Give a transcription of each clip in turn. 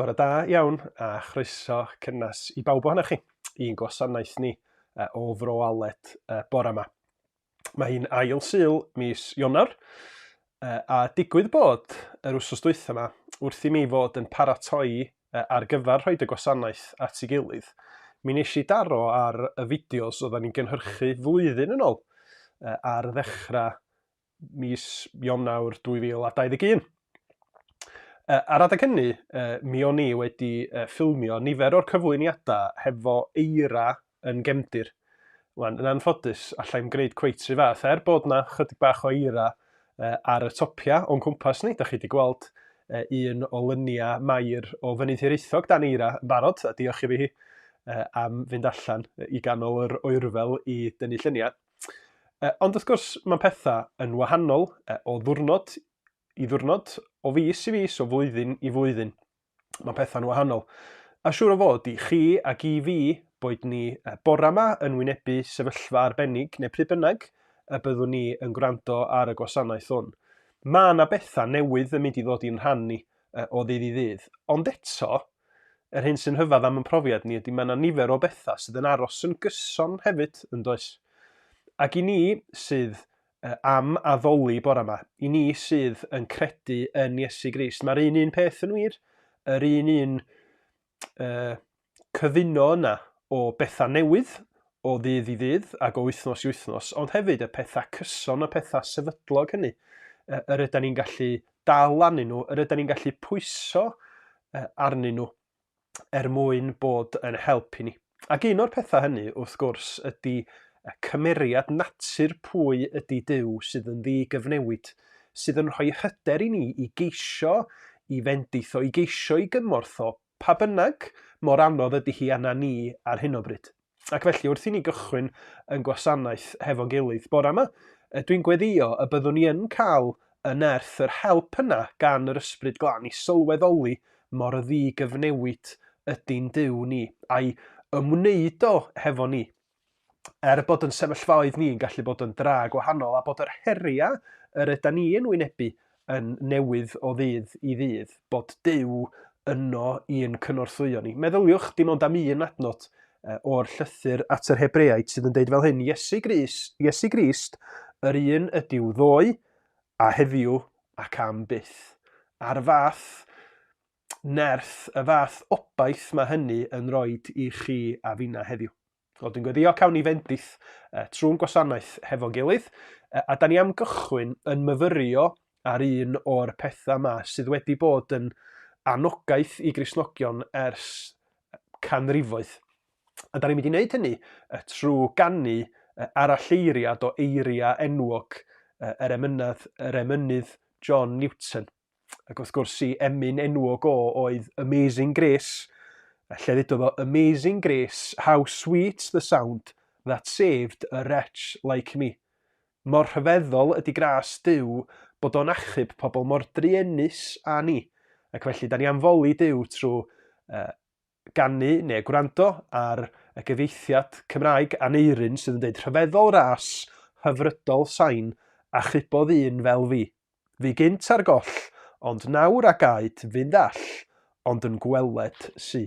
Bore da iawn a chroeso cynnes i bawb ohonoch chi i'n gwasanaeth ni o Fro Aled bore yma. Mae hi'n ail Sul mis Ionawr, a digwydd bod yr wsos dwytha ma, wrth i mi fod yn paratoi ar gyfer rhoed y gwasanaeth at ei gilydd, mi nes i daro ar y fideos odda ni'n gynhyrchu flwyddyn yn ol, ar ddechra mis Ionawr 2021. Ar adeg hynny, mi o'n i wedi ffilmio nifer o'r cyflwyniada hefo eira yn gefndir. Wan, yn anffodus, allai'm gwneud cweit rhy fath, er bod na chydig bach o eira ar y topia o'n cwmpas ni, da chi di gweld un o lynia Mair o Fynydd Hiraethog dan eira yn barod, a diolch i fi hi am fynd allan i ganol yr oerfel i dynnu lluniau. Ond wrth gwrs, mae'n pethau yn wahanol o ddwrnod i ddwrnod, o fis i fis, o flwyddyn i flwyddyn. Mae pethau'n wahanol. A siŵr o fod i chi ac i fi, boed ni bore 'ma yn wynebu sefyllfa arbennig neu pryd bynnag y byddwn ni yn gwrando ar y gwasanaeth hwn, mae 'na bethau newydd yn mynd i ddod i'n rhan ni o ddydd i ddydd. Ond eto, yr hyn sy'n rhyfedd am 'yn profiad ni ydy mae 'na nifer o bethau sydd yn aros yn gyson hefyd, yn does? Ac i ni sydd am addoli bore 'ma. I ni sydd yn credu yn Iesu Grist, mae'r un un peth yn wir, yr un un uh, cyfuno yna o bethau newydd, o ddydd i ddydd ac o wythnos i wythnos, ond hefyd y pethau cyson, y pethau sefydlog hynny, uh, yr ydyn ni'n gallu dal arnyn nhw, yr ydyn ni'n gallu pwyso uh, arnyn nhw. er mwyn bod yn help i ni. Ac un o'r pethau hynny, wrth gwrs, ydy cymeriad natur pwy ydy Duw sydd yn ddi-gyfnewid, sydd yn rhoi hyder i ni i geisio i fendith o, i geisio i gymorth o, pa bynnag mor anodd ydy hi arna ni ar hyn o bryd. Ac felly, wrth i ni gychwyn yn gwasanaeth hefo'n gilydd bore yma, dwi'n gweddïo y byddwn ni yn cael y nerth, yr help yna gan yr Ysbryd Glân i sylweddoli mor ddi-gyfnewid ydy'n Duw ni, a'i ymwneud o hefo ni, er bod yn sefyllfaoedd ni'n gallu bod yn dra gwahanol, a bod yr heriau yr yda ni yn wynebu yn newydd o ddydd i ddydd, bod Duw yno i'n cynorthwyo ni. Meddyliwch dim ond am un adnod o'r llythyr at yr Hebreaid sydd yn deud fel hyn, Iesu Grist, Iesu Grist, yr un ydyw ddoe a heddiw ac am byth. A'r fath nerth, y fath obaith mae hynny yn rhoi i chi a finna heddiw. Wel, dwi'n gweddio cawn ni fendith uh, trwy'n gwasanaeth hefo gilydd, uh, a da ni am gychwyn yn myfyrio ar un o'r pethau yma sydd wedi bod yn anogaeth i grisnogion ers canrifoedd. A da ni'n mynd i wneud hynny uh, trwy gannu uh, aralleiriad o eiriau enwog uh, yr emynnydd, yr emynydd John Newton. ac wrth gwrs i emyn enwog o oedd Amazing Grace, a lle ddudodd o Amazing Grace, how sweet the sound that saved a wretch like me. Mor rhyfeddol ydy gras Duw bod o'n achub pobl mor druenus â ni, ac felly da ni am foli Duw trwy uh, ganu neu gwrando ar y gyfieithiad Cymraeg Aneurin sydd yn deud rhyfeddol ras, hyfrydol sain, a chrybodd un fel fi. Fu gynt ar goll, ond nawr a gaed fynd all, ond yn gweled sy.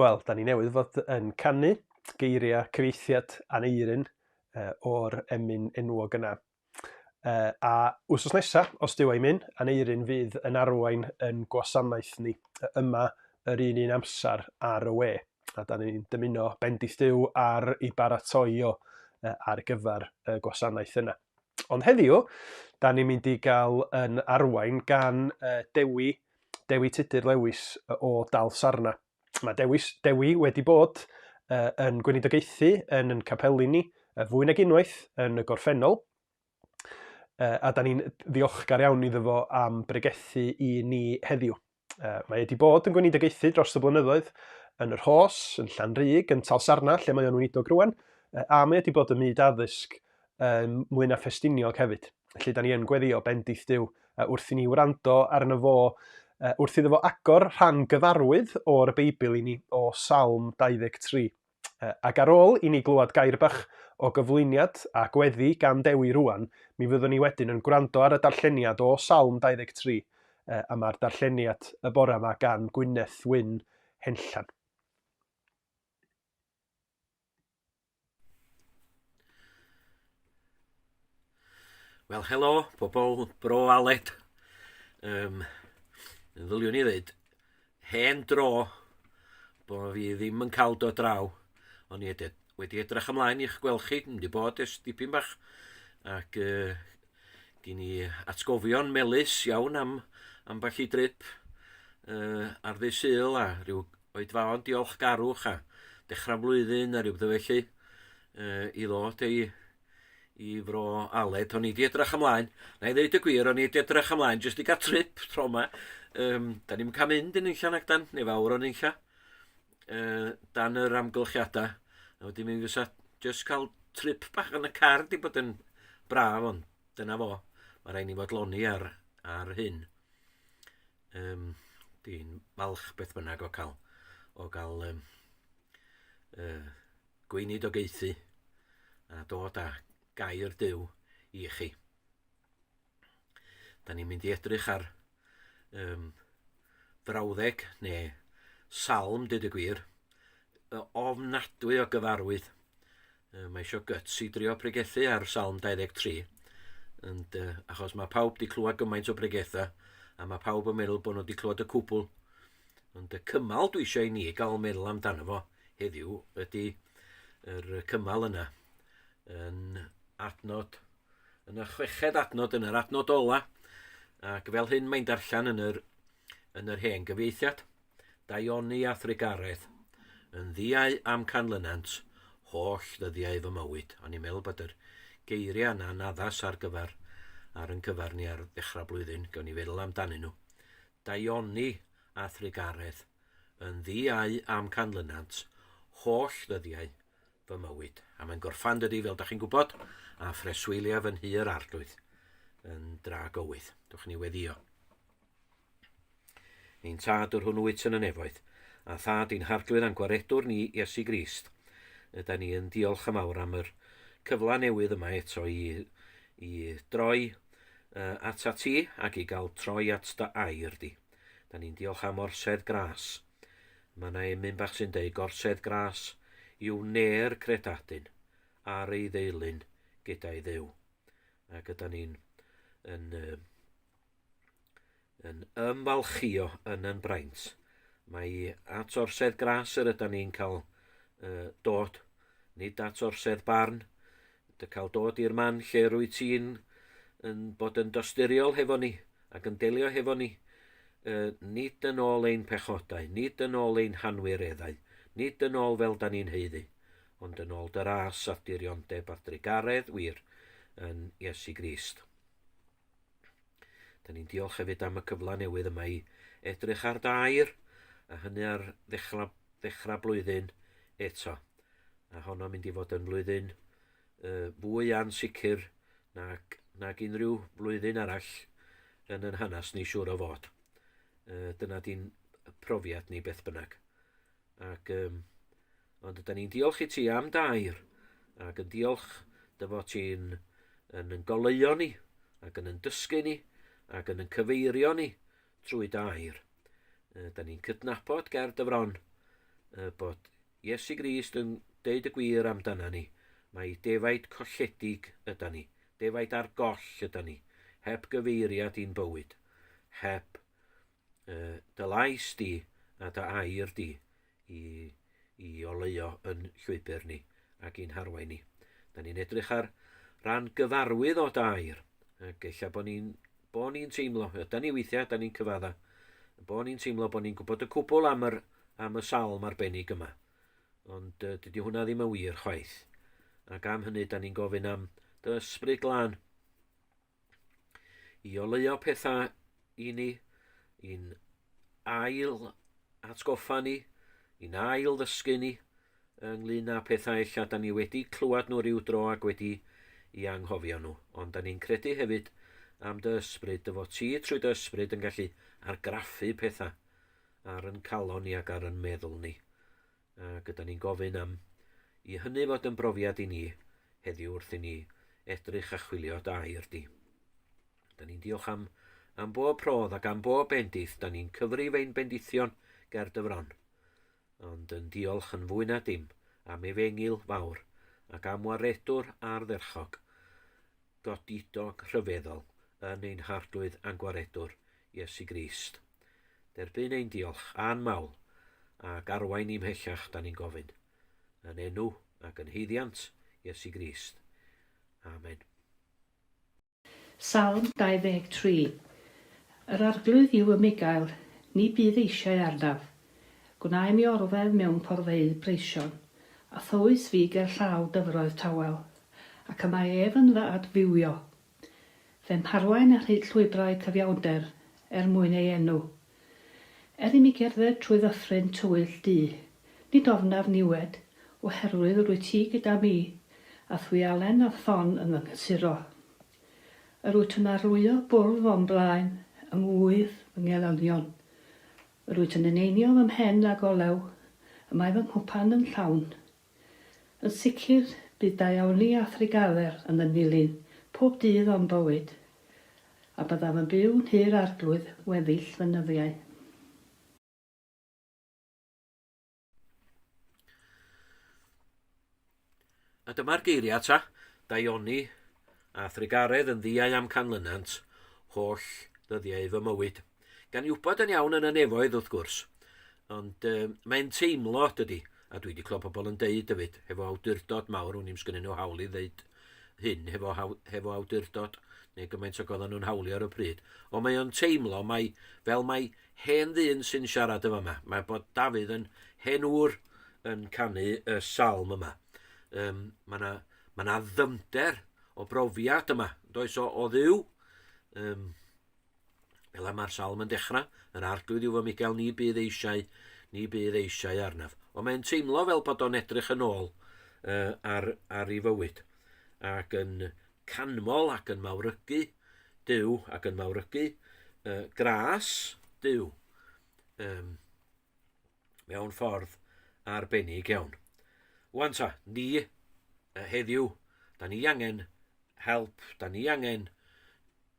Wel, da ni newydd fod yn canu geiriau cyfieithiad Aneurin o'r emyn enwog yna. A wsos nesa, os dyw ei myn, Aneurin fydd yn arwain yn gwasanaeth ni yma yr un un amser ar y we. A da ni'n dymuno bendith Duw ar i baratoi o ar gyfer y gwasanaeth yna. Ond heddiw, da ni'n mynd i gael yn arwain gan Dewi Dewi Tudur Lewis o Dal Sarna. Mae Dewis, Dewi wedi bod yn gweinidogaethu yn yn capeli ni fwy nag unwaith yn y gorffennol, a da ni'n ddiolchgar iawn iddo fo am bregethu i ni heddiw. Mae wedi bod yn gweinidogaethu dros y blynyddoedd yn yr Hos, yn Llanrug, yn Tal Sarna, lle mae o'n weinidog rwan, a mae wedi bod ym myd addysg yn mwy na Ffestiniog hefyd. Felly, da ni yn gweddio bendith Dyw wrth i ni wrando arno fo, wrth iddo fo agor rhan gyfarwydd o'r Beibl i ni o Salm 23. Ac ar ôl i ni glywed gair bach o gyflwyniad a gweddi gan Dewi rwan, mi fyddwn ni wedyn yn gwrando ar y darlleniad o Salm 23, a mae'r darlleniad y bore yma gan Gwyneth Wyn Henllan. Wel, helo, pobl bro Aled. Um, yn ddyliwn i ddweud, hen dro bod fi ddim yn cael dod draw, ond i edrych, wedi edrych ymlaen i'ch gweld chi, yn wedi bod ys dipyn bach, ac uh, gen i atgofion melus iawn am, am falle drip uh, ar ddydd syl a rhyw oedfaon diolchgarwch a dechrau flwyddyn neu rhywbeth felly uh, i ddod i, i fro Aled. O'n i wedi edrych ymlaen, na i ddeud y gwir, o'n i wedi edrych ymlaen jyst i gael trip tro yma. Um, da ni'n cael mynd yn unlla nag dan, neu fawr o'n unlla, uh, dan yr amgylchiadau. A wedi mynd fysa jyst cael trip bach yn y car di bod yn braf, ond dyna fo. Mae rhaid ni fod loni ar, ar hyn. Yym, dwi'n falch beth bynnag o cael, o gael um, uh, gweinid o geithi a dod â gair Dyw i chi. Da ni'n mynd i edrych ar um, frawddeg neu salm, dyd y gwir, ofnadwy o gyfarwydd Uh, mae eisiau guts i drio pregethu ar Salm 23. And, uh, achos mae pawb di clywed gymaint o bregethau, a mae pawb yn meddwl bod nhw di clywed y cwbl. Ond y cymal dwi eisiau i ni gael meddwl amdano fo heddiw ydy yr cymal yna yn adnod, yn y chweched adnod, yn yr adnod ola, ac fel hyn mae'n darllen yn yr, yn yr hen gyfieithiad. Daioni a thrugaredd, yn ddiau am canlynant holl ddyddiau fy mywyd. O'n i'n meddwl bod yr geiriau yna'n addas ar gyfer ar yn cyfer ni ar ddechrau blwyddyn, gawn ni feddwl amdanyn nhw. Daioni a thrugaredd, yn ddiau am canlynant holl ddyddiau fy mywyd. A mae'n gorffan dydy, fel da chi'n gwybod, a phreswyliaf yn hir arglwydd yn dra gywydd. Dwch ni weddio. Ni'n tad yr hwn wyt yn y nefoedd, a thad i'n harglwydd a'n gwaredwr ni, Iesu Grist. Yda ni yn diolch am awr am yr cyfla newydd yma eto i, i droi uh, at at ti ac i gael troi at dy air di. Da ni'n diolch am orsedd gras. Mae yna emyn bach sy'n deud gorsedd gras yw ner credadun ar ei ddeilyn gyda'i ddew. Ac yda ni'n yn, uh, yn ymfalchio yn yn braint. Mae at orsedd gras yr yda ni'n cael uh, dod, nid at orsedd barn. Dy cael dod i'r man lle rwy ti'n yn bod yn dosturiol hefo ni ac yn delio hefo ni. Uh, nid yn ôl ein pechodau, nid yn ôl ein hanwireddau, nid yn ôl fel da ni'n heiddi, ond yn ôl dy ras ath diriondeb ath drugaredd wir yn Iesu Grist. Da ni'n diolch hefyd am y cyfle newydd yma i edrych ar dair, a hynny ar ddechrau, ddechrau blwyddyn eto. A honno mynd i fod yn flwyddyn uh, fwy ansicr nag, nag unrhyw flwyddyn arall yn yn hanes ni siŵr o fod. Uh, dyna di'n profiad ni beth bynnag. Ac, um, ond ydy ni'n diolch i ti am dair, ac yn diolch dy fod ti'n yn yn goleuo ni, ac yn yn dysgu ni, ac yn yn cyfeirio ni trwy dair. Ydy ni'n cydnabod ger dyfron bod Iesu Grist yn deud y gwir amdana ni. Mae defaid colledig yda ni, defaid ar goll yda ni, heb gyfeiriad i'n bywyd, heb uh, dy lais di a dy air di i, i oleio yn llwybr ni ac i'n harwain ni. Da ni'n edrych ar ran gyfarwydd o dair, ac eich bod ni'n bo ni teimlo, da ni weithiau, da ni'n cyfadda, bo ni'n teimlo bod ni'n gwybod y cwbl am, yr, am y salm arbennig yma. Ond uh, dydy hwnna ddim yn wir chwaith. Ac am hynny, da ni'n gofyn am dy ysbryd glân i oleuo pethau i ni, i'n ail atgoffa ni, i'n ail ddysgu ni ynglyn â pethau ella da ni wedi clywed nhw rhyw dro ac wedi i anghofio nhw. Ond da ni'n credu hefyd am dy ysbryd, dy fod ti trwy dy ysbryd yn gallu argraffu pethau ar yn calon ni ac ar yn meddwl ni. Ac ydyn ni'n gofyn am i hynny fod yn brofiad i ni heddiw wrth i ni edrych a chwilio da i rdi. Ydyn ni'n diolch am, am bob prodd ac am bob bendith, da ni'n cyfrif ein bendithion ger dy fron. Ond yn diolch yn fwy na dim am efengil fawr ac am waredwr ardderchog, godidog rhyfeddol yn ein harglwydd a'n gwaredwr, Iesu Grist. Derbyn ein diolch a'n mawl, ac arwain ni mhellach, da ni'n gofyn, yn enw ac yn haeddiant Iesu Grist. Amen. Salm 23. Yr Arglwydd yw 'y mhugail, ni bydd eisiau arnaf. Gwna i mi orddef mewn porfeydd breision, a thywys fi gerllaw dyfroedd tawel, ac y mae ef yn fy adfywio Fe'm harwain ar hyd llwybrau cyfiawnder er mwyn ei enw. Er i mi gerdded trwy ddyffryn tywyll du, nid ofnaf niwed, oherwydd rwyt ti gyda mi, a thwialen a thon yn fy nghysuro. Yr wyt yn arlwyo bwrdd o'm blaen, yng ngŵydd fy ngelynion. Yr wyt yn eneinio fy mhen ag olew, y mae fy nghwpan yn llawn. Yn sicr, bydd daioni a threigaler yn fy nilyn pob dydd o'm bywyd, a byddaf yn byw yn Nhŷ'r Arglwydd weddill fy nyddiau. A dyma'r geiriau ta, daioni A thrugaredd yn ddiau amcanlynant holl ddyddiau fy mywyd. Gan i wybod yn iawn yn y nefoedd, wrth gwrs. Ond uh, mae'n teimlo, dydy, a dwi wedi clywed pobl yn deud dyfyd, hefo awdurdod mawr, wn i'n sgynnyn nhw hawl i ddeud hyn hefo, hefo awdurdod, neu gymaint o goddan nhw'n hawlio ar y pryd. Ond mae o'n teimlo, mae, fel mae hen ddyn sy'n siarad yma yma, mae bod Dafydd yn hen ŵr yn canu y salm yma. Um, mae yna Mae yna ddyfnder o brofiad yma, does o, o ddiw. Um, fel mae'r salm yn dechrau, yr arglwydd yw fy Michael, ni bydd eisiau, ni bydd eisiau arnaf. Ond mae'n teimlo fel bod o'n edrych yn ôl uh, ar, ar ei fywyd ac yn canmol ac yn mawrygu Dyw ac yn mawrygu uh, gras Dyw. Um, mewn ffordd arbennig iawn. Wan ta, ni, heddiw, da ni angen help, da ni angen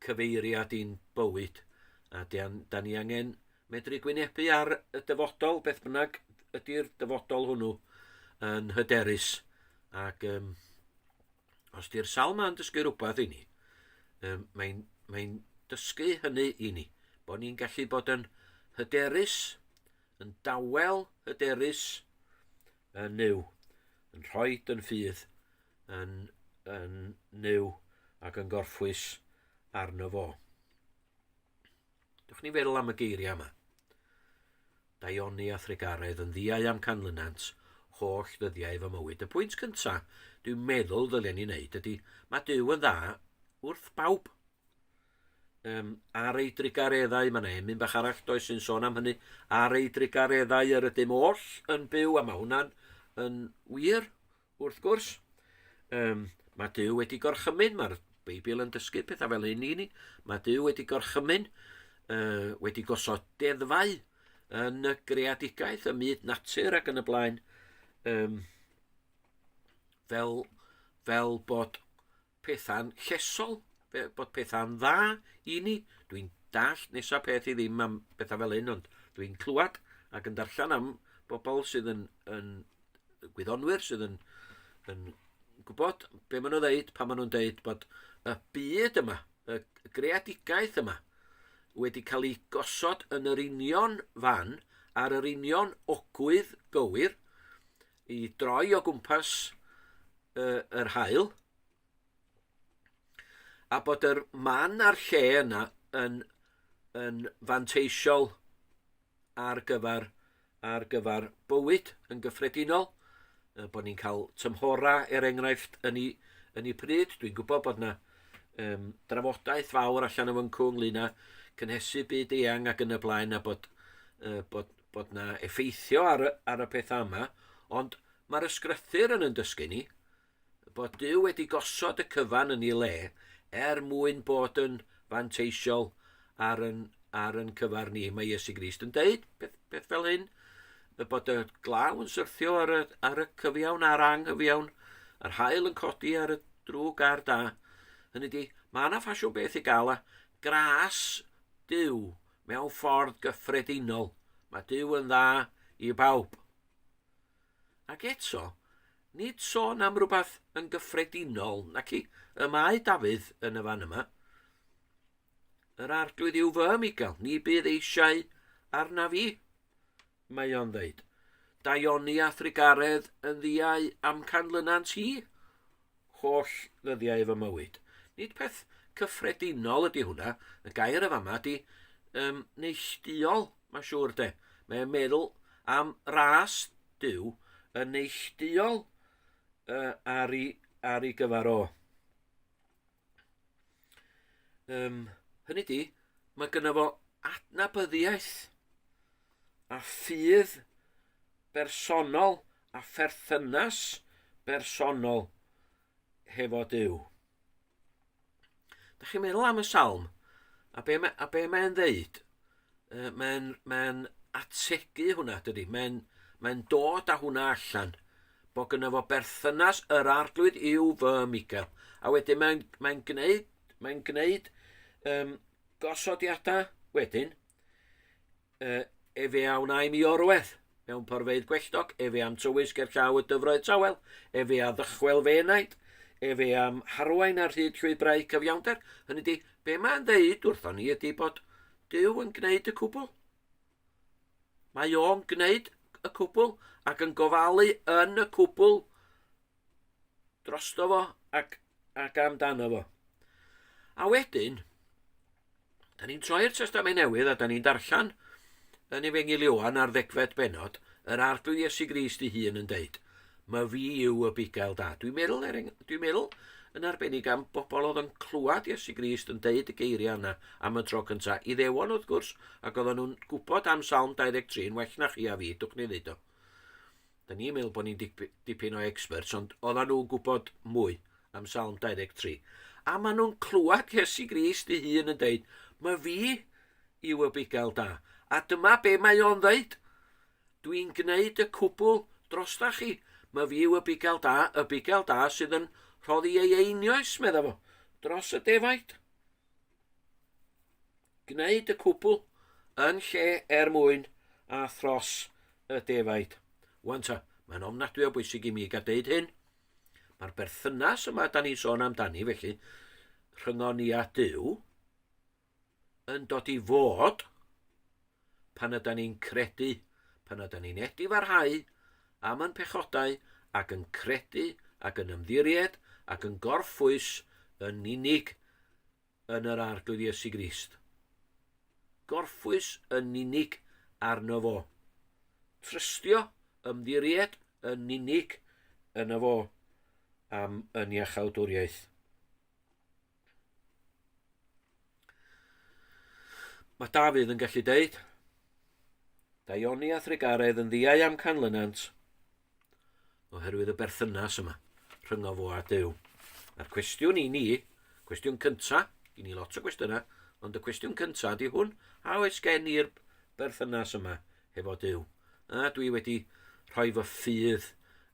cyfeiriad i'n bywyd, a da ni angen medru gwynebu ar y dyfodol, beth bynnag ydy'r dyfodol hwnnw yn hyderus ac um, Os di'r sawl ma'n dysgu rhywbeth i ni, um, mae'n mae dysgu hynny i ni, bod ni'n gallu bod yn hyderus, yn dawel hyderus yn nyw, yn rhoi yn ffydd yn, yn nyw ac yn gorffwys arno fo. Dwch ni'n feddwl am y geiriau yma. Daioni a thrugaredd yn ddiau am canlynant holl ddyddiau fy mywyd. Y pwynt cynta dwi'n meddwl ddylen ni wneud ydy, mae Duw yn dda wrth bawb. Um, ar ei drugareddau, mae yna emyn bach arall does sy'n sôn am hynny, ar ei drugareddau yr ydym oll yn byw, a mae hwnna'n yn wir, Wrth gwrs, um, mae Dyw wedi gorchymyn, mae'r Beibl yn dysgu pethau fel hyn i ni, mae Dyw wedi gorchymyn, uh, wedi gosod deddfau yn y greadigaeth, y myd natur ac yn y blaen, um, fel, fel bod pethau'n llesol, bod pethau'n dda i ni. Dwi'n dallt nesa peth i ddim am bethau fel hyn, ond dwi'n clywed ac yn darllen am bobl sydd yn, yn gwyddonwyr, sydd yn, yn gwybod be maen nhw'n dweud pan maen nhw'n dweud bod y byd yma, y greadigaeth yma, wedi cael ei gosod yn yr union fan, ar yr union ogwydd gywir, i droi o gwmpas uh, yr hael, a bod yr man a'r lle yna yn, yn fanteisiol ar gyfer, ar gyfer bywyd yn gyffredinol, bod ni'n cael tymhorau, er enghraifft, yn ei, yn ei pryd. Dwi'n gwybod bod yna um, drafodaeth fawr allan o fyncw ynglyn â cynhesu byd eang ac yn y blaen a bod, uh, bod, bod na effeithio ar y, ar y pethau yma, ond mae'r ysgrythyr yn yn dysgu ni bod Dyw wedi gosod y cyfan yn ei le er mwyn bod yn fanteisiol ar yn, ar yn cyfar ni. Mae Iesu Grist yn deud peth, peth fel hyn, y bod y glaw yn syrthio ar y, ar y cyfiawn a'r anghyfiawn, yr hael yn codi ar y drwg a'r da. Hynny di, mae yna ffasiwn beth i gael a gras Dyw Mewn ffordd gyffredinol, mae Duw yn dda i bawb. Ac eto, nid sôn am rhywbeth yn gyffredinol, nac i, y mae Dafydd yn y fan yma. Yr arglwydd yw fy Migael, ni bydd eisiau arnaf i. mae o'n ddeud. Daioni a thrigaredd yn ddiau am canlynant hi, holl ddyddiau fy mywyd. Nid peth cyffredinol ydy hwnna, y gair y fama ydy um, neillduol, mae'n siŵr de. Mae'n meddwl am ras Dyw yn neillduol uh, ar, ei, ar ei gyfer o. Um, hynny di, mae gyda fo adnabyddiaeth a ffydd bersonol a pherthynas bersonol hefo Dyw. Da chi'n meddwl am y salm, a be mae'n ddeud? Uh, mae'n mae ategu hwnna, dydy. Mae'n mae dod â hwnna allan, bod gyda fo berthynas yr arglwydd i'w fy Michael. A wedyn mae'n mae gwneud, mae gwneud um, gosodiadau wedyn, uh, efe a wna i mi orwedd. Mewn porfeydd gwelltog, efe am tywys ger llaw y dyfroedd tawel, efe a ddychwel fe enaid, efe am harwain ar hyd llwybrau cyfiawnder, hynny di, be mae'n ddeud wrthon ni ydy bod Dyw yn gwneud y cwbl. Mae o'n gwneud y cwbl ac yn gofalu yn y cwbl drosto fo ac, ac amdano fo. A wedyn, da ni'n troi'r testament newydd a da ni'n darllen yn efengyl Ioan ar ddegfed benod, yr arglw Iesu Grist i hun yn deud, mae fi yw y bugael da. Dwi'n meddwl, er dwi'n meddwl yn arbennig am bobl oedd yn clywed Iesu Grist yn deud y geiriau yna am y tro cynta. I ddewon wrth gwrs, ac oedden nhw'n gwybod am Salm 23 yn well na chi a fi, dwch ni ddeud o. Da ni'n meddwl bod ni'n dip, dipyn o experts, ond oedden nhw'n gwybod mwy am Salm 23. A maen nhw'n clywed Iesu Grist ei hun yn dweud, mae fi yw y bugail da. A dyma be mae o'n dweud. Dwi'n gwneud y cwbl drosta chi. Mae fi yw y bugail da, y bugail da sydd yn rhoddi ei einioes, meddai fo, dros y defaid. Gwneud y cwbl yn lle er mwyn a thros y defaid. Wan ta, mae'n ofnadwy o bwysig i mi gael deud hyn. Mae'r berthynas yma da ni'n sôn amdani, felly, rhyngon ni a Dyw, yn dod i fod pan ydan ni'n credu, pan ydan ni'n edifarhau am yn pechodau ac yn credu ac yn ymddiried ac yn gorffwys yn unig yn yr Arglwydd Iesu Grist. Gorffwys yn unig arno fo. Trystio, ymddiried yn unig yn y fo am yn iachawdwriaeth. Mae Dafydd yn gallu deud, Daioni a Thrigaredd yn ddiau am canlynant, oherwydd y berthynas yma rhyngo fo a Dyw. A'r cwestiwn i ni, cwestiwn cynta, i ni lot o gwestiynau, ond y cwestiwn cynta ydy hwn, a oes gen i'r berthynas yma hefo Duw, a dwi wedi rhoi fy ffydd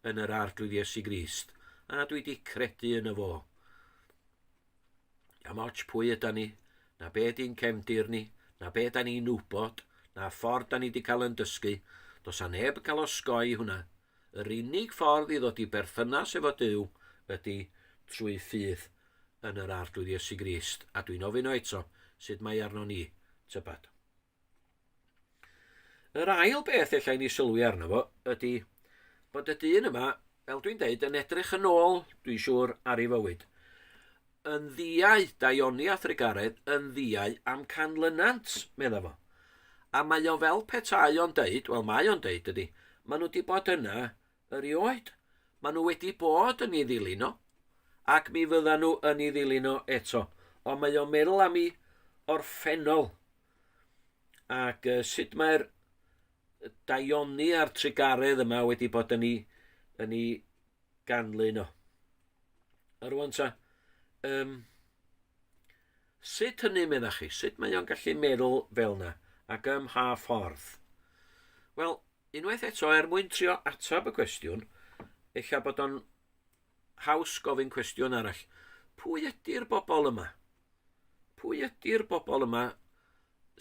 yn yr Arglwydd Iesu Grist, a dwi wedi credu yn y fo. Am ots pwy yda ni, na be di'n cefndir ni, na be da ni'n wybod, na ffordd da ni wedi cael yn dysgu, dos a neb cael osgoi hwnna. Yr unig ffordd i ddod i berthynas efo Duw ydy trwy ffydd yn yr Arglwydd Iesu Grist, a dwi'n ofyn o eto, sut mae arno ni, tybad. Yr ail beth ella i ni sylwi arno fo ydy bod y dyn yma, fel dwi'n deud, yn edrych yn ôl, dwi'n siŵr, ar ei fywyd. Yn ddiau, Daioni a Thrigaredd, yn ddiau am canlynant, medda fo. A mae o fel petai o'n deud, wel mae o'n deud dydy, maen nhw wedi bod yna Erioed, maen nhw wedi bod yn ei ddilyn o, ac mi fyddan nhw yn ei ddilyn o eto. Ond mae o'n meddwl am ei orffennol, ac uh, sut mae'r daioni a'r trigaredd yma wedi bod yn ei, yn ei ganlyn o. A rwan ta, um, sut hynny meddwl chi? Sut mae o'n gallu meddwl fel yna ac ym mha ffordd? Wel, Unwaith eto, er mwyn trio ateb y cwestiwn, ella bod o'n haws gofyn cwestiwn arall. Pwy ydy'r bobl yma? Pwy ydy'r bobl yma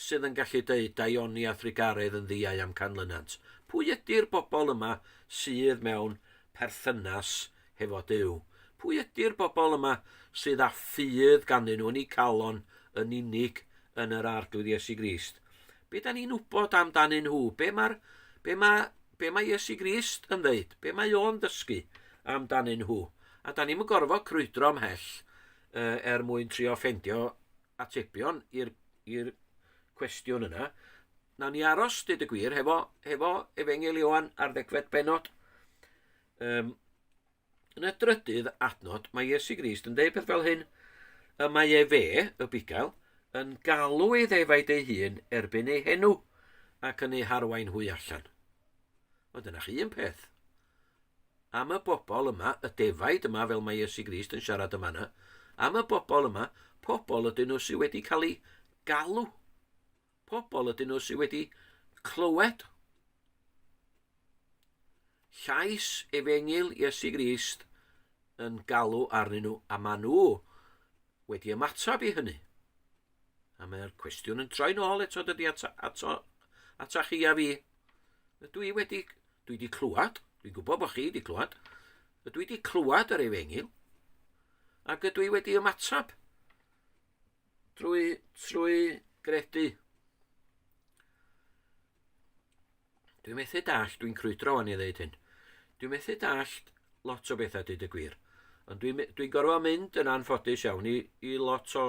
sydd yn gallu deud daioni a thrugaredd yn ddiau am canlynant? Pwy ydy'r bobl yma sydd mewn perthynas hefo Dyw? Pwy ydy'r bobl yma sydd â ffydd ganddyn nhw yn eu calon yn unig yn yr arglwydd Iesu Grist? Be da ni'n wybod amdanyn nhw? Be mae, be mae, be mae Iesu Grist yn ddeud? Be mae o'n dysgu amdanyn nhw? A da ni'n mynd gorfod crwydro ymhell uh, er mwyn trio ffendio atebion i'r cwestiwn yna. Na ni aros, dyd y gwir, hefo, hefo Efengel Ioan ar ddegfed benod. Um, Yn y drydydd adnod, mae Iesu Grist yn deud peth fel hyn, y mae e fe, y bugail, yn galw ei ddefaid ei hun erbyn ei henw, ac yn ei harwain hwy allan. Ond dyna chi un peth. Am y bobl yma, y defaid yma, fel mae Iesu Grist yn siarad yma yna, am y bobl yma, pobl ydyn nhw sydd wedi cael ei galw. Pobl ydyn nhw sydd wedi clywed llais efengyl Iesu Grist yn galw arnyn nhw, a maen nhw wedi ymateb i hynny. A mae'r cwestiwn yn troi'n ôl eto dydy ato, ato, ato chi a fi. Ydw i wedi, dwi wedi clywed, dwi'n gwybod bod chi wedi clywed, ydw i wedi clywed yr efengyl, ac ydw i wedi ymateb Trwy, trwy gredu. Dwi'n methu dall, dwi'n crwydro o'n i ddeud hyn. Dwi'n methu dall lot o bethau dyd y gwir. Ond dwi'n dwi gorfod mynd yn anffodus iawn i, i lot o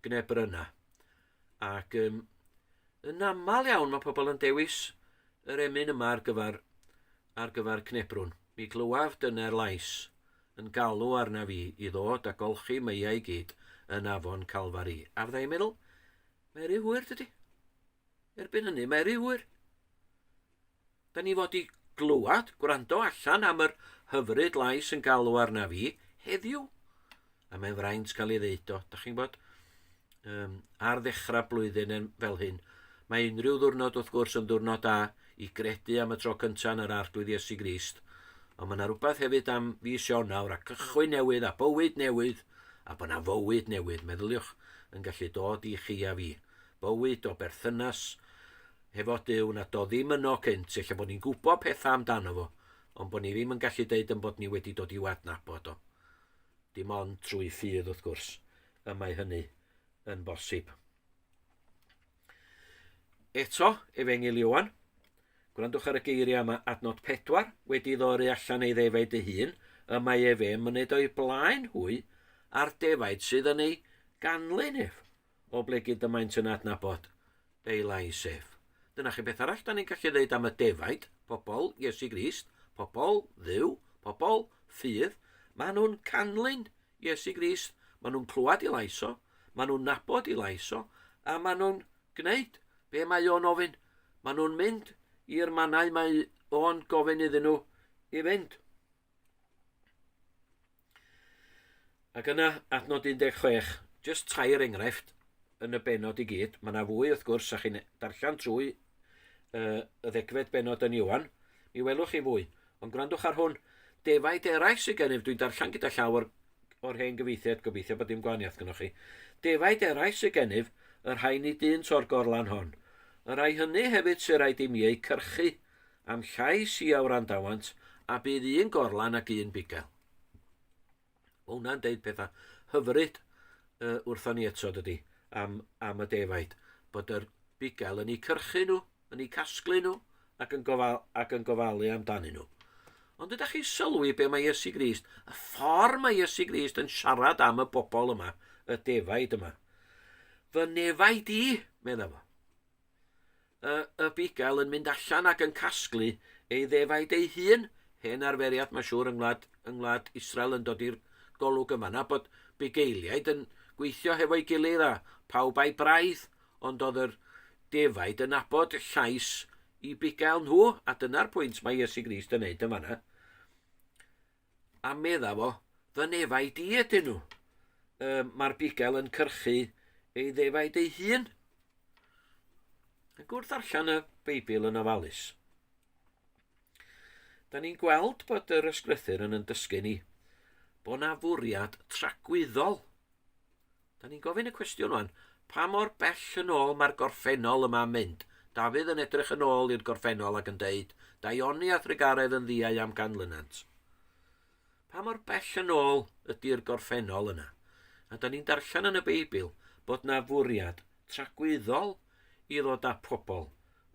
gnebr yna. Ac um, yn aml iawn mae pobl yn dewis yr emyn yma ar gyfer, ar gyfer cnebrwn. Mi glywaf dyna'r lais yn galw arnaf i i ddod a golchi meiau gyd yn afon Calfari. A fydda i'n meddwl, mae rhy hwyr dydy. Erbyn hynny, mae rhy hwyr. Da ni fod i glywed, gwrando allan am yr hyfryd lais yn galw arnaf i heddiw. A mae'n fraint cael ei ddeud o, da chi'n bod, um, ar ddechrau blwyddyn yn fel hyn. Mae unrhyw ddwrnod wrth gwrs yn ddwrnod da i gredu am y tro cyntaf yn yr Arglwydd Iesu Grist, ond mae yna rhywbeth hefyd am fis Ionawr a cychwyn newydd a bywyd newydd a bod yna fywyd newydd, meddyliwch, yn gallu dod i chi a fi. Bywyd o berthynas hefo Dyw na do ddim yno cynt, efallai bod ni'n gwybod pethau amdano fo, ond bod ni ddim yn gallu deud yn bod ni wedi dod i'w adnabod o. Dim ond trwy ffydd wrth gwrs. y mae hynny yn bosib. Eto, Efengil Iwan, gwrandwch ar y geiriau yma adnod 4, wedi ddoru allan ei ddefaid ei hun, y mae ef e'n myned o'i blaen hwy a'r defaid sydd yn ei ganlyn ef, o ble gyd y maent yn adnabod Daylight Safe. Dyna chi beth arall da ni'n gallu ddeud am y defaid, pobl Iesu Grist, pobl dduw, pobl ffydd. Maen nhw'n canlyn Iesu Grist, maen nhw'n clywed i lais o, maen nhw'n nabod i lais o, a maen nhw'n gwneud be mae o'n ofyn. Maen nhw'n mynd i'r mannau mae o'n gofyn iddyn nhw i fynd. Ac yna, adnod 16, jyst tair enghraifft yn y benod i gyd. Mae yna fwy, wrth gwrs, a chi'n darllen trwy uh, y ddegfed benod yn Iwan, mi welwch chi fwy. Ond gwrandwch ar hwn, defaid eraill sydd gennyf, dwi'n darllen gyda llaw o'r, or hen gyfeithiad, gobeithio bod dim gwahaniaeth gynnwch chi. Defaid eraill sydd gennyf, y rhai ni dyn to'r gorlan hon. Y rhai hynny hefyd sy'n rhaid i mi eu cyrchu Am llais i a wrandawant, a bydd un gorlan ac un bugail. Mae hwnna'n deud pethau hyfryd uh, wrthon ni eto, dydy, am, am y defaid, bod yr bugail yn ei cyrchu nhw, yn ei casglu nhw, ac yn, gofal, ac yn gofalu amdanyn nhw. Ond ydych chi sylwi be mae Iesu Grist, y ffordd mae Iesu Grist yn siarad am y bobl yma, y defaid yma. Fy nefaid i, medda fo. y, y bugail yn mynd allan ac yn casglu ei ddefaid ei hun. Hen arferiad, mae siŵr, yng ngwlad, yng ngwlad Israel yn dod i'r golwg yma na bod bugeiliaid yn gweithio hefo'i gilydd a pawb a'i braidd, ond oedd yr defaid yn abod llais i bugail nhw, a dyna'r pwynt mae Iesu Grist yn neud yn fanna. A medda fo, Fy nefaid i ydyn nhw. Um, Mae'r bigel yn cyrchu ei ddefaid ei hun. Ac wrth allan y Beibl yn ofalus, da ni'n gweld bod yr ysgrythyr yn yn dysgu ni bod na fwriad tragwyddol Da ni'n gofyn y cwestiwn wan, pa mor bell yn ôl mae'r gorffennol yma'n mynd? Dafydd yn edrych yn ôl i'r gorffennol ac yn deud, Daioni a Thregaredd yn ddiau am ganlynant. Pa mor bell yn ôl ydy'r gorffennol yna? A da ni'n darllen yn y Beibl bod na fwriad tragwyddol i ddod â pobl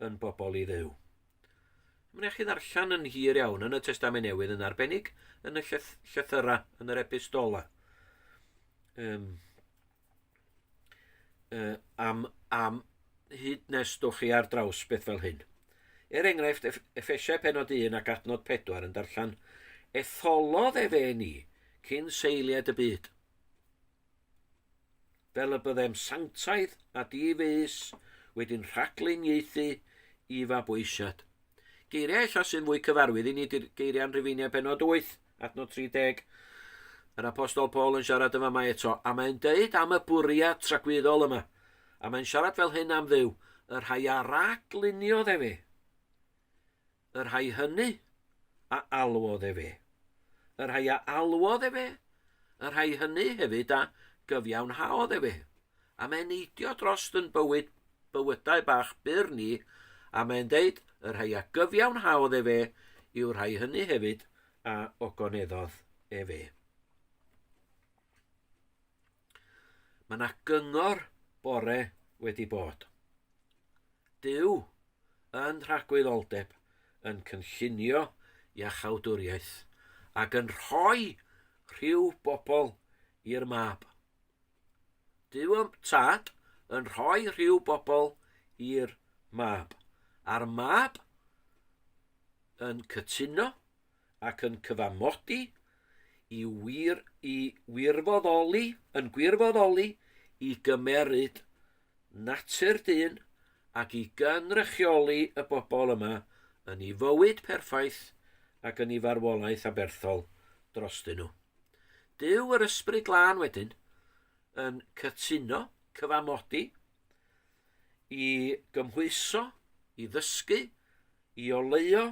yn bobl i ddew. Mae'n eich chi ddarllen yn hir iawn yn y Testament Newydd yn arbennig yn y llyth llythyrau, yn yr epistola. Um, uh, am, am hyd nes dwch chi ar draws beth fel hyn. Er enghraifft, Efesiau penod 1 ac adnod 4 yn darllen, Etholodd efe ni cyn seiliad y byd. fel y byddem sanctaidd a di-fys wedi'n rhagluniaethu i fabwysiad. Geiriau ella sy'n fwy cyfarwydd i ni ydy'r geiriau yn Rhufeiniau penod 8, adnod 30. Yr apostol Paul yn siarad yn fama eto, a mae'n deud am y bwriad tragwyddol yma, a mae'n siarad fel hyn am dduw, y rhai a ragluniodd efe. Y rhai hynny a alwodd efe. Y rhai a alwodd efe, y rhai hynny hefyd a gyfiawnhaodd efe. A mae'n neidio drost yn bywyd, bywydau bach byr ni, a mae'n deud, y rhai a gyfiawnhaodd efe, yw'r rhai hynny hefyd a ogoneddodd efe. Mae yna gyngor bore wedi bod. Duw, yn rhagwyddoldeb, yn cynllunio iachawdwriaeth, ac yn rhoi rhyw bobl i'r mab. Duw ym tad yn rhoi rhyw bobl i'r mab, a'r mab yn cytuno ac yn cyfamodi i wir i wirfoddoli yn gwirfoddoli i gymeryd natur dyn ac i gynrychioli y bobl yma yn ei fywyd perffaith ac yn ei farwolaeth aberthol drostyn nhw. Dyw yr Ysbryd Glân wedyn yn cytuno, cyfamodi, i gymhwyso, i ddysgu, i oleio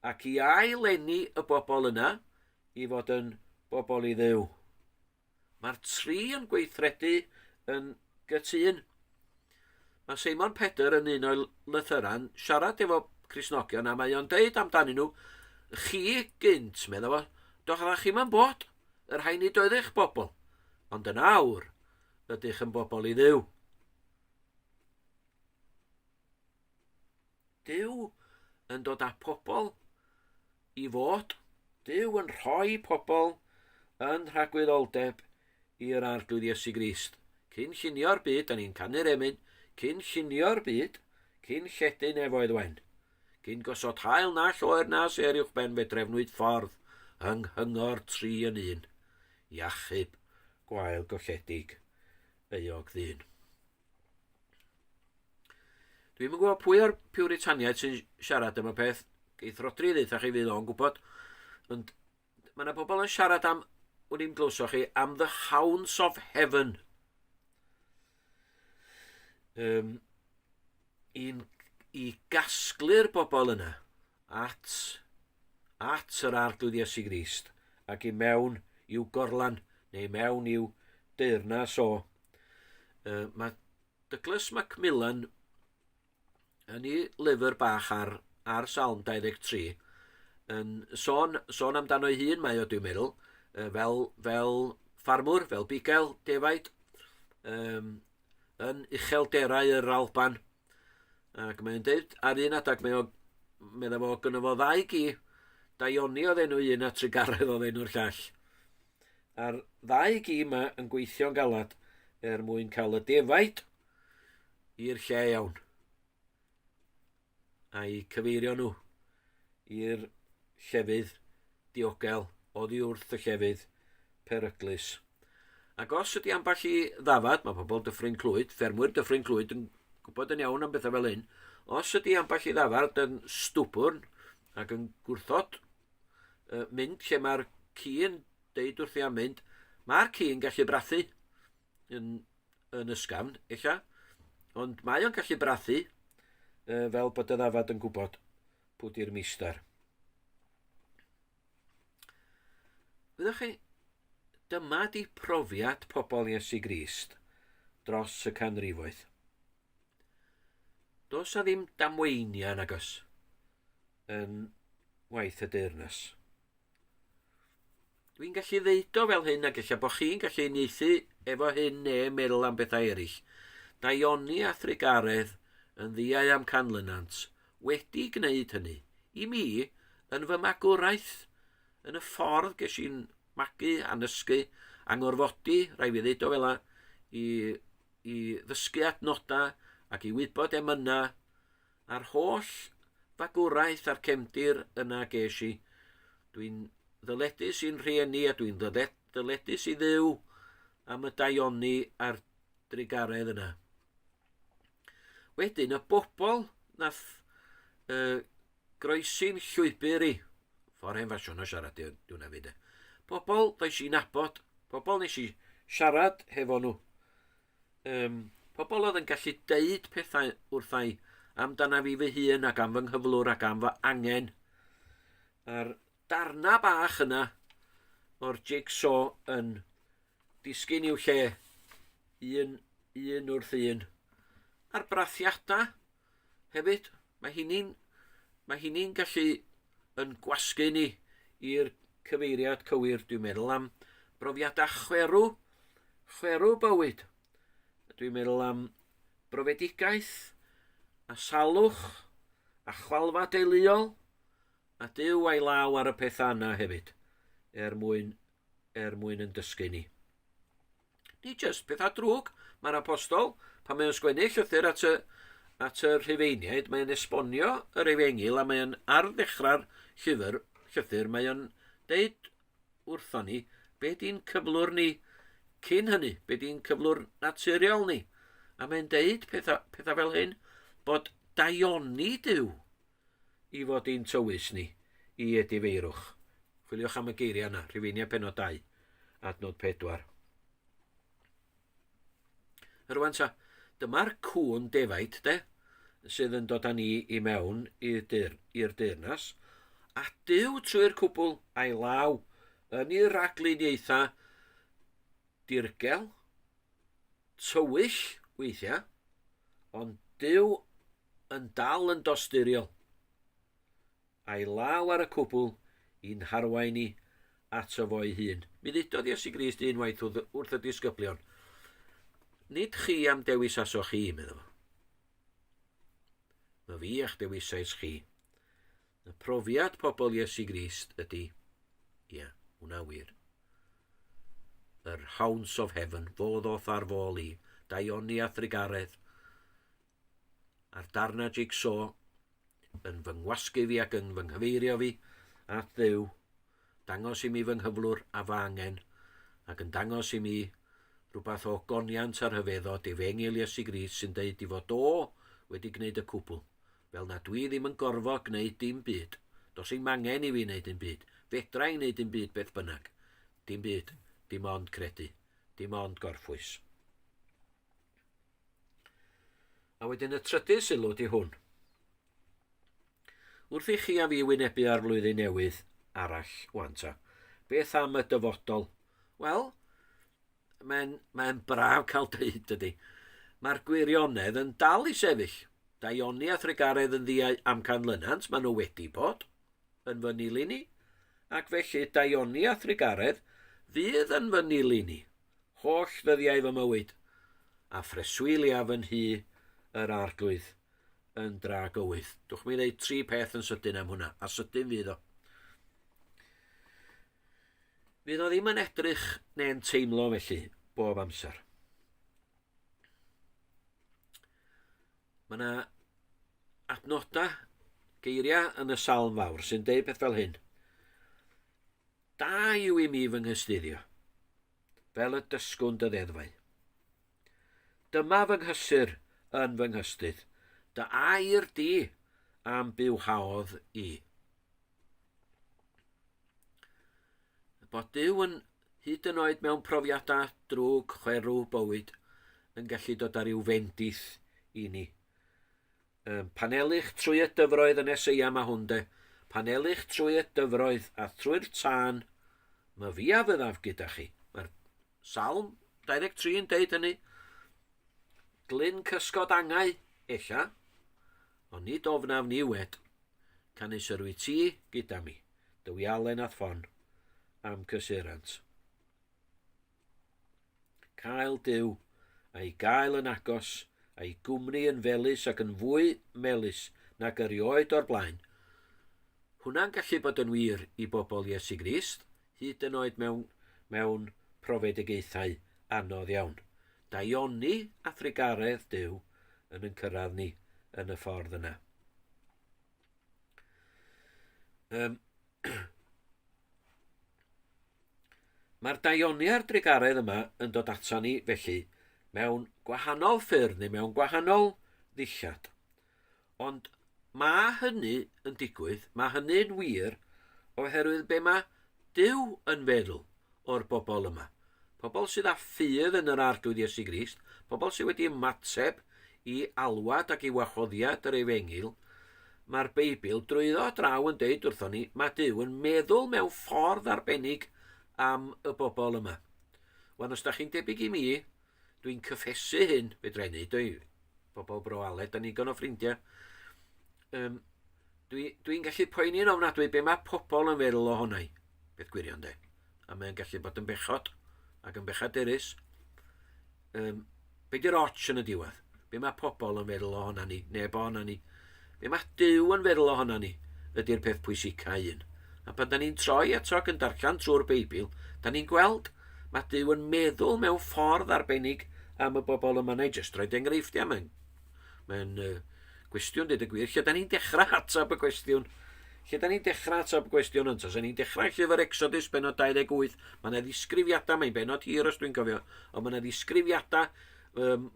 ac i ail-lenni y bobl yna i fod yn bobl i ddew. Mae'r tri yn gweithredu yn gytun. Mae Simon Pedr yn un o'i lythyran siarad efo Crisnogion a mae o'n deud amdanyn nhw, chi gynt, meddwl fo, doch ydych chi'n yn bod, yr hain i doedd eich bobl, ond yn awr ydych yn bobl i ddew. Duw yn dod â pobl i fod. Duw yn rhoi pobl yn rhagwyddoldeb i'r Arglwydd Iesu Grist. Cyn llunio'r byd, da ni'n canu'r emyn, cyn llunio'r byd, cyn lledu nefoedd wen. Cyn gosod hael na lloer na ser uwch ben fe drefnwyd ffordd yng nghyngor tri yn un. Iachub, gwael golledig, euog ddyn. Dwi'n yn gwybod pwy o'r piwritaniaid sy'n siarad am y peth. Geith Rodri ddeitha chi fydd o'n gwybod. Ond mae yna bobl yn siarad am, wn i'n glywso chi, am the hounds of heaven. Um, i'n i gasglu'r bobl yna at, at yr arglwydd Iesu Grist ac i mewn i'w gorlan neu mewn i'w deyrnas o Uh, mae Douglas Macmillan yn ei lyfr bach ar, ar Salm 23 yn sôn, sôn amdano ei hun mae o dwi'n meddwl, uh, fel, fel ffarmwr, fel bugail defaid, um, yn uchelderau yr Alban. Ac mae'n dweud ar un adeg mae o, meddwl fo gyda fo ddau gi, Daioni oedd enw un a Trigaredd oedd enw'r llall. A'r ddau gi yma yn gweithio'n galad er mwyn cael y defaid i'r lle iawn. A'i cyfeirio nhw i'r llefydd diogel oddi wrth y llefydd peryglus. Ac os ydy ambell i ddafad, mae pobl dyffryn clwyd, ffermwyr dyffryn clwyd yn gwybod yn iawn am bethau fel hyn, os ydy ambell i ddafad yn stwbwrn ac yn gwrthod uh, mynd lle mae'r ci yn deud wrthi am mynd, mae'r ci yn gallu brathu yn, yn ysgafn, eich ond mae o'n gallu brathu uh, fel bod y ddafad yn gwybod pwy di'r mister. Fyddwch chi, dyma di profiad pobl Iesu Grist dros y canrifoedd. Does na ddim damweiniau yn agos yn waith y deyrnas. Dwi'n gallu ddeud o fel hyn ac eich bod chi'n gallu unieithu efo hyn ne meddwl am bethau eraill. Daioni a thrigaredd yn ddiau am canlynant wedi gwneud hynny. I mi, yn fy magwraeth, yn y ffordd ges i'n magu a nysgu, a ngorfodi, rai fi ddeud o fela, i i ddysgu adnodau ac i wybod emynau a'r holl fagwraeth a'r cefndir yna ges i. Dwi'n ddyledus i'n rhieni a dwi'n ddyledus i ddew am y daioni a'r drugaredd yna. Wedyn, y bobl nath uh, Groesi'n llwybr i. Ffordd hen ffasiwn o siarad di hwnna fi de. Pobl does i'n abod, pobl nes i siarad hefo nhw. Um, pobl oedd yn gallu deud pethau wrthau amdana fi fy hun ac am fy nghyflwr ac am fy angen. A'r darna bach yna o'r jigsaw yn disgyn i'w lle un, un wrth un. A'r brathiadau Hefyd, mae hynny'n mae hynny'n gallu yn gwasgu ni i'r cyfeiriad cywir, dwi'n meddwl, am brofiadau chwerw, chwerw bywyd. Dwi'n meddwl am brofedigaeth a salwch a chwalfa deuluol a dyw a'i law ar y pethau yna hefyd er mwyn, er mwyn yn dysgu ni. Ni jyst pethau drwg, mae'r apostol, pan mae'n sgwennu llythyr at y, at y rhifeiniaid, mae'n esbonio yr efengil a mae'n ar ddechrau'r llyfr, llythyr, mae'n deud wrtho ni be di'n cyflwr ni cyn hynny, be di'n cyflwr naturiol ni. A mae'n deud pethau, pethau fel hyn, bod daioni Dyw I fod i'n tywys ni, i edifeirwch. Chwiliwch am y geiriau yna, Rhufeiniau penod 2, adnod 4. Rwan ta, dyma'r cwn defaid, de, sydd yn dod â ni i mewn i'r dyr, deyrnas, a dyw trwy'r cwbl a'i law yn ei ragluniaethau dirgel, tywyll weithiau, ond dyw yn dal yn dosturiol, a'i law ar y cwbl i'n harwain ni ato fo'i hun. Mi ddudodd Iesu Grist unwaith wrth y disgyblion, Nid chi am dewis aso chi, meddwl. Mae fi a'ch dewisais chi. Y profiad pobl Iesu Grist ydy, ia, yeah, hwnna wir. Yr Hounds of Heaven, fo ddoth ar fôl i, Daioni a Thrigaredd, a'r darnau jigsaw yn fy ngwasgu fi ac yn fy nghyfeirio fi at ddew, dangos i mi fy nghyflwr a fy angen, ac yn dangos i mi rhywbeth o goniant a rhyfeddo difengil Iesu Gris sy'n deud i fod o wedi gwneud y cwbl, fel na dwi ddim yn gorfod gwneud dim byd. Dos i'm angen i fi wneud dim byd. Fedra i wneud dim byd beth bynnag. Dim byd. Dim ond credu. Dim ond gorffwys. A wedyn y trydydd sylw di hwn. Wrth i chi a fi wynebu ar flwyddyn newydd arall wan ta, beth am y dyfodol? Wel, mae'n mae braf cael dweud dydy. Mae'r gwirionedd yn dal i sefyll. Da Ioni a Thregaredd yn ddiau amcan lynant, maen nhw wedi bod yn fy nili ni, ac felly da Ioni a Thregaredd fydd yn fy nili ni holl ddyddiau fy mywyd, a phreswyliaf fy nhŷ yr Arglwydd yn dra gywydd. Dwch mi ddweud tri peth yn sydyn am hwnna, a sydyn fydd o. Fydd o ddim yn edrych neu'n teimlo felly bob amser. Mae yna adnodau, geiriau yn y salm fawr sy'n deud peth fel hyn. Da yw i mi fy nghystuddio, fel y dysgwn dy ddeddfau. Dyma fy nghysur yn fy nghystudd, dy air di am bywhaodd i. Bod Dyw yn hyd yn oed mewn profiadau drwg chwerw bywyd yn gallu dod ar i'w fendith i ni. Um, panelich trwy y dyfroedd yn eseia mae hwn de. Panelich trwy y dyfroedd a thrwy'r tân, mae fi a fyddaf gyda chi. Mae'r salm 23 yn deud hynny. Glyn cysgod angau, ella, ond nid ofnaf ni wed. Canys yr wyt ti gyda mi, dywialen a thfon, am cysurant. Cael Duw, a'i gael yn agos, a'i gwmni yn felys ac yn fwy melys nag erioed o'r blaen. Hwnna'n gallu bod yn wir i bobl Iesu Grist, hyd yn oed mewn, mewn profedigaethau anodd iawn. Daioni a thrugaredd Duw yn yn cyrraedd ni yn y ffordd yna. Um, Mae'r daioniau'r drugaredd yma yn dod ato ni, felly, mewn gwahanol ffyrdd neu mewn gwahanol ddillad. Ond mae hynny yn digwydd, mae hynny'n wir, oherwydd be mae Dyw yn feddwl o'r bobl yma. Pobl sydd â ffydd yn yr Arglwydd Iesu Grist, pobl sydd wedi ymateb i alwad ac i wahoddiad yr Efengyl, mae'r Beibl drwyddo draw yn deud wrthon ni, mae Dyw yn meddwl mewn ffordd arbennig am y bobl yma. Wan, os da chi'n debyg i mi, Dwi'n cyffesu hyn, fedra i wneud o'i bobl bro Aled, da ni'n o ffrindiau. Um, Dwi'n dwi, dwi gallu poeni'n ofnadwy be mae pobl yn feddwl o hwnna i, beth gwirion de. A mae'n gallu bod yn bechod ac yn bechaderus. Um, be di'r och yn y diwedd? Be mae pobl yn feddwl ohona ni? Neb ohona ni. Be mae Duw yn feddwl ohona ni? Ydy'r peth pwysicau un. A pan da ni'n troi ato ac yn darllen trwy'r Beibl, da ni'n gweld mae Duw yn meddwl mewn ffordd arbennig am y bobl yma. Na i jyst rhoi enghreifftiau. Mae'n mae uh, gwestiwn, dweud y gwir, lle da ni'n dechrau ateb y cwestiwn Lle da ni'n dechrau ateb gwestiwn ynt? Os ni'n dechrau llyfr Exodus, benod 28, mae yna ddisgrifiadau, mae'n benod hir os dwi'n cofio, ond mae yna ddisgrifiadau um,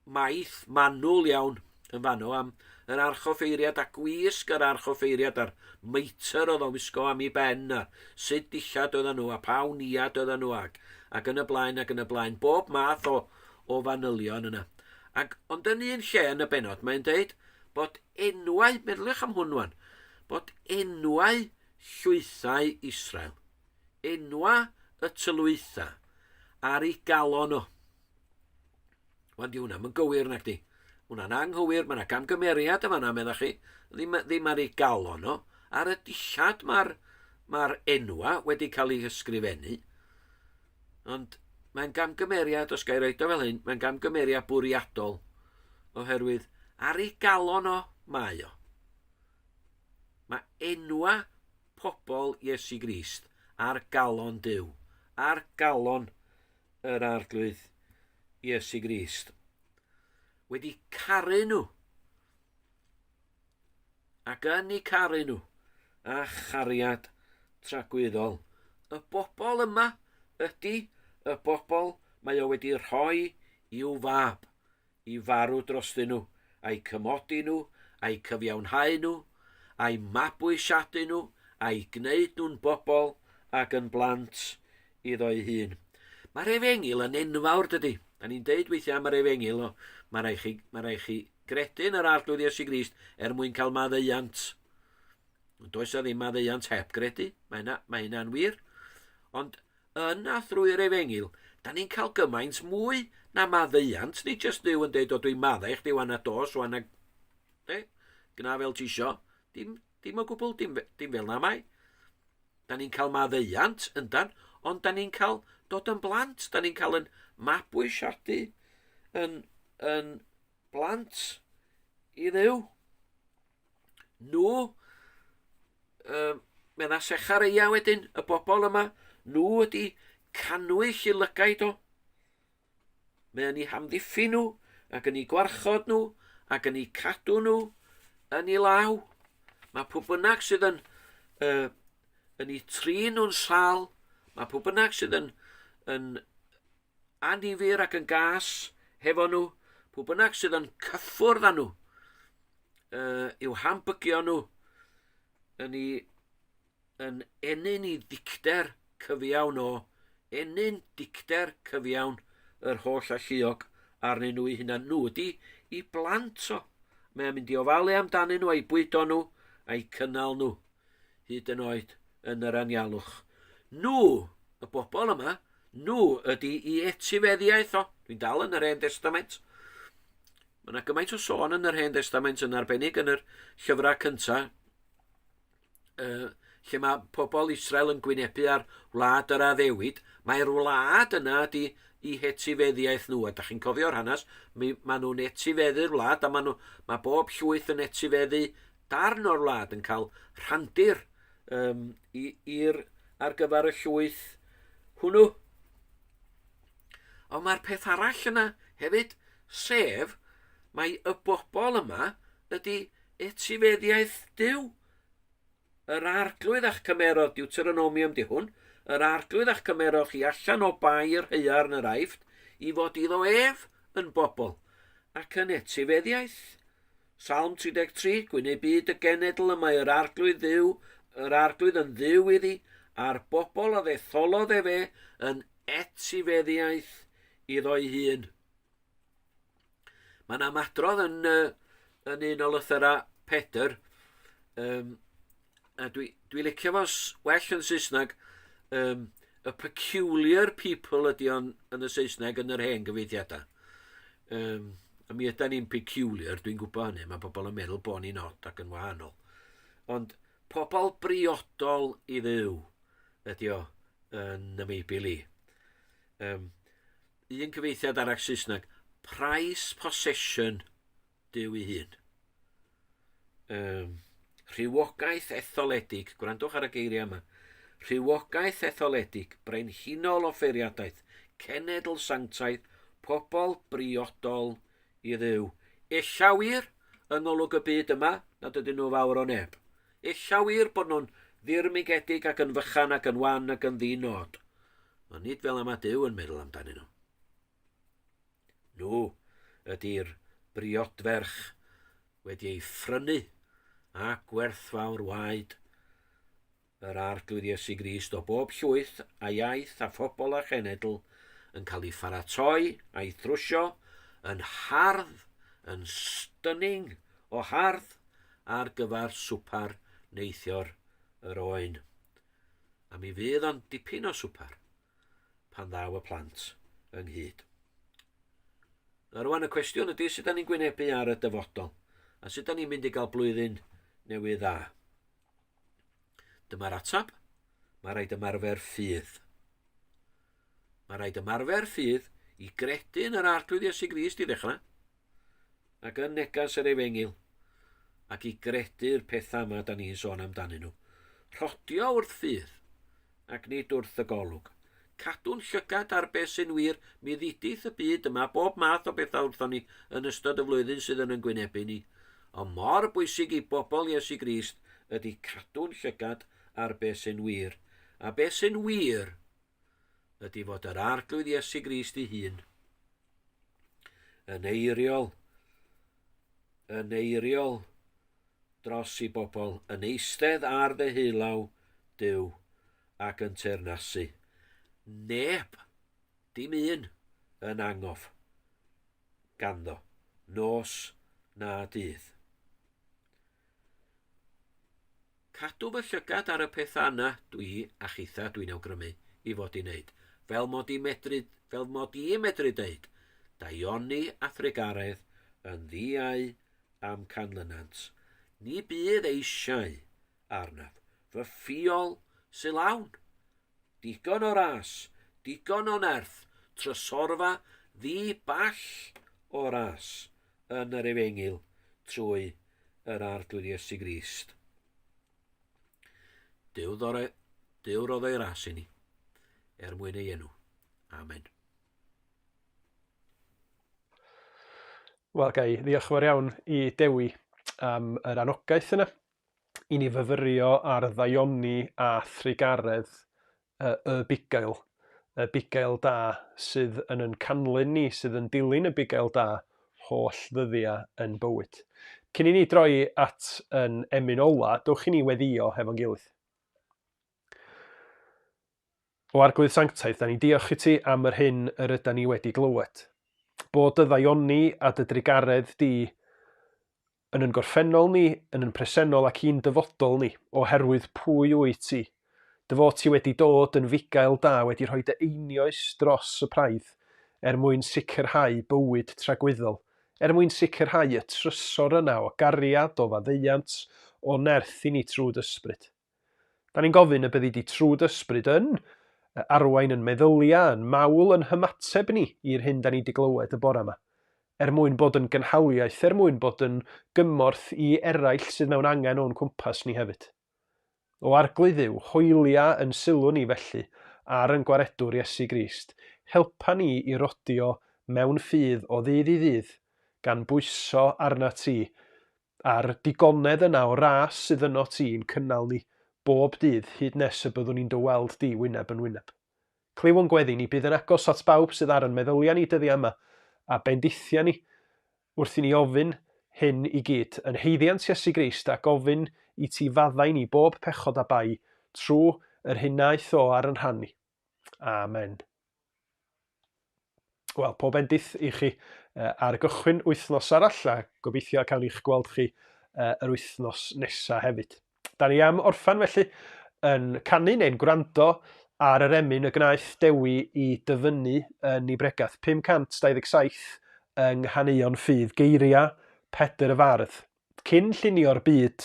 maith manwl iawn yn fan o am yr archoffeiriad a gwisg yr archoffeiriad a'r meitr oedd o'n wisgo am ei ben a sut dillad oedden nhw a pa wniad oedden nhw ac, ac yn y blaen ac yn y blaen, bob math o, o fanylion yna. Ac, ond yn un lle yn y benod, mae'n dweud bod enwau, meddyliwch am hwn wan, bod enwau llwythau Israel, enwa y tylwytha ar ei galon o. Wel, di hwnna, mae'n gywir nag di. Hwna'n anghywir, mae yna gamgymeriad y fanna, meddach chi, ddim, ddim ar ei galon nhw. Ar y dillad mae'r ma enwa wedi cael ei hysgrifennu. Ond mae'n gamgymeriad, os gael roed o fel hyn, mae'n gamgymeriad bwriadol. Oherwydd ar ei galon o, mae o. Mae enwa pobl Iesu Grist ar galon Dyw, ar galon yr Arglwydd Iesu Grist, wedi caru nhw, ac yn ei caru nhw, a chariad tragwyddol. Y bobl yma ydy y bobl mae o wedi rhoi i'w fab, i farw drostyn nhw, a'u cymodi nhw, a'u cyfiawnhau nhw, a'u mabwysiadu nhw, a'u gwneud nhw'n bobl ac yn blant iddo'i hun. Mae'r efengyl yn enfawr, dydy. Da ni'n deud weithiau am yr efengyl, o, mae rhaid chi, mae rhaid chi gredu yn yr arglwydd Iesu Grist er mwyn cael maddeuant. Ond does a ddim maddeuant heb gredu, mae hynna, mae hynna'n wir. Ond Yn a thrwy yr efengyl, da ni'n cael gymaint mwy na maddeuant, ni jyst Duw yn deud o dwi'n maddau i chdi wan a dos wan a... De? Gna fel ti isio. Dim, dim o gwbl, dim, dim fel na mai. Da ni'n cael maddeuant, yndan, ond da ni'n cael dod yn blant, da ni'n cael yn mabwysiadu yn, yn blant i ddew. Nhw, um, medda Sechareia wedyn, y bobl yma, nhw ydy cannwyll i lygaid o. Mae yn ei hamddiffyn nhw, ac yn ei gwarchod nhw, ac yn ei cadw nhw yn ei law. Mae pwy bynnag sydd yn, uh, yn ei trin nhw'n sal, mae pwy bynnag sydd yn, yn annifyr ac yn gas hefo nhw, pw bynnag sydd yn cyffwrdd â nhw, uh, i'w hambygio nhw, yn ei yn ennyn i dicter cyfiawn o, ennyn dicter cyfiawn yr holl alluog arnyn nhw i hunan. Nhw ydy i blant o. Mae'n mynd i ofalu amdanyn nhw a'i bwydo nhw a'i cynnal nhw. hyd yn oed yn yr anialwch. Nhw, y bobl yma, nhw ydy i etifeddiaeth o. Dwi'n dal yn yr Hen Testament. Mae yna gymaint o sôn yn yr Hen Testament yn arbennig yn yr llyfrau cyntaf, uh, lle mae pobl Israel yn gwynebu ar wlad yr addewid. Mae'r wlad yna ydy i hetifeddiaeth nhw, a da chi'n cofio'r hanes, mae nhw'n etifeddu'r wlad, a mae, nhw, mae bob llwyth yn etifeddu darn o'r wlad yn cael rhandir um, i'r ar gyfer y llwyth hwnnw. Ond mae'r peth arall yna hefyd, sef mae y bobl yma ydy etifeddiaeth Dyw. Yr arglwydd a'ch cymerodd, Deuteronomium di hwn, yr arglwydd a'ch cymerodd chi allan o bai yr heiar yn yr aifft, i fod iddo ef yn bobl, ac yn etifeddiaeth. Salm 33, Gwyn ei byd y genedl y mae yr arglwydd ddiw, yr arglwydd yn ddiw iddi, a'r bobl a ddetholodd e fe yn etifeddiaeth iddo'i hun. Mae'n amadrodd yn, yn un o lythyrau Pedr, um, a dwi dwi licio fo s- well yn Saesneg um, a peculiar people ydy o'n yn y Saesneg yn yr hen gyfeithiadau. Um, a mi ydan ni'n peculiar, dwi'n gwybod hynny, mae pobl yn meddwl bod ni'n od ac yn wahanol. Ond pobl briodol i ddew ydy o yn y Meibl i. Um, un cyfeithiad arall Saesneg, price possession Duw ei hun. Um, rhywogaeth etholedig, gwrandwch ar y geiriau yma, rhywogaeth etholedig, brenhinol o ffeiriadaeth, cenedl sanctaidd, pobl briodol i ddew. Ella wir, yng ngolwg y byd yma, nad ydyn nhw fawr o neb. Ella wir bod nhw'n ddirmigedig ac yn fychan ac yn wan ac yn ddinod. Ond nid fel yma Dyw yn meddwl amdanyn nhw. Nhw ydy'r briodferch wedi ei phrynu a gwerthfawr waed yr Arglwydd Iesu Grist o bob llwyth a iaith a phobl a chenedl yn cael ei pharatoi a'i thrwsio yn hardd, yn stunning o hardd ar gyfer swper neithiwr yr oen. A mi fydd o'n dipyn o swper. pan ddaw y plant ynghyd. A rwan y cwestiwn ydy sut da ni'n gwynebu ar y dyfodol a sut da ni'n mynd i gael blwyddyn newydd dda. Dyma'r atab. Mae rhaid ymarfer ffydd. Mae rhaid ymarfer ffydd i gredu yn yr arglwydd Iesu Grist i ddechrau, ac yn negas yr efengyl, ac i gredu'r pethau yma da ni'n sôn amdanyn nhw. Rhodio wrth ffydd, ac nid wrth y golwg. Cadw'n llygad ar beth sy'n wir, mi ddidith y byd yma bob math o bethau wrthon ni yn ystod y flwyddyn sydd yn yn gwynebu ni. Ond mor bwysig i bobl Iesu Grist ydy cadw'n llygad ar beth sy'n wir. A beth sy'n wir ydy fod yr Arglwydd Iesu Grist ei hun yn eiriol, yn eiriol dros ei bobl, yn eistedd ar ddeheulaw Dyw ac yn teyrnasu. Neb, dim un, yn angof ganddo, nos na dydd. Cadw fy llygad ar y pethau yna dwi a chitha dwi'n awgrymu i fod i wneud, fel mod i medru, fel mod i medru deud, daioni a thrugaredd yn ddiau a'm canlynant, ni bydd eisiau arnaf, fy ffiol sy lawn! Digon o ras, digon o nerth, trysorfa ddi ball o ras, yn yr Efengyl trwy yr Arglwydd Iesu Grist. Dyw ddore, dyw roddau ras i ni, er mwyn ei enw. Amen. Wel, gai ddiolch yn fawr iawn i Dewi am yr anogaeth yna i ni fyfyrio ar ddaioni a thrugaredd y y bugail, y bugail da sydd yn yn canlyn ni, sydd yn dilyn y bugail da holl ddyddiau yn bywyd. Cyn i ni droi at yn emyn ola, dwch i ni weddio hefo'n gilydd. O Arglwydd Sanctaidd, da ni'n diolch i ti am yr hyn yr yda ni wedi glywed. Bod dy ddaioni a dy drugaredd di Yn yn gorffennol ni, yn yn presennol ac i'n dyfodol ni, O herwydd pwy wyt ti? Dy fod ti wedi dod yn fugail da, wedi rhoi dy einioes dros y praidd, er mwyn sicrhau bywyd tragwyddol, er mwyn sicrhau y trysor yna o gariad, o faddeuant, o nerth i ni trwy d'ysbryd. Da ni'n gofyn y byddi di trw dy ysbryd yn y arwain yn meddylia yn mawl yn hymateb ni i'r hyn da ni di glywed y bora ma. Er mwyn bod yn gynhaliaeth, er mwyn bod yn gymorth i eraill sydd mewn angen o'n cwmpas ni hefyd. O Arglwy Dduw, hoelia yn sylw ni felly ar yn Gwaredwr Iesu Grist, helpa ni i rodio mewn ffydd o ddydd i ddydd, gan bwyso arnat ti, a'r digonedd yna o ras sydd yno ti i'n cynnal ni bob dydd hyd nes y byddwn ni'n dy weld di wyneb yn wyneb. Clywo'n gweddi ni, bydd yn agos at bawb sydd ar yn meddylia ni dyddia yma, a bendithia ni, wrth i ni ofyn hyn i gyd, yn haeddiant Iesu Grist, a gofyn i ti faddau ni bob pechod a bai, trwy yr hyn naeth o ar yn rhan ni. Amen. Wel, pob endith i chi uh, ar gychwyn wythnos arall a gobeithio cawn i'ch gweld chi uh, yr wythnos nesaf hefyd. Da ni am orffan felly yn canu neu'n gwrando ar yr emyn y gwnaeth Dewi i dyfynnu yn ei bregath 527 yng Nghaneuon Ffydd Geiriau Pedr y Fardd. Cyn llunio'r byd,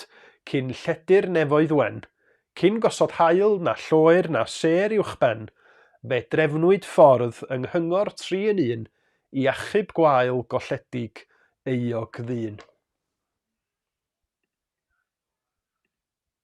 cyn lledu'r nefoedd wen, cyn gosod haul na lloer na sêr uwchben, fe drefnwyd ffordd yng nghyngor tri yn un i achub gwael golledig euog ddyn.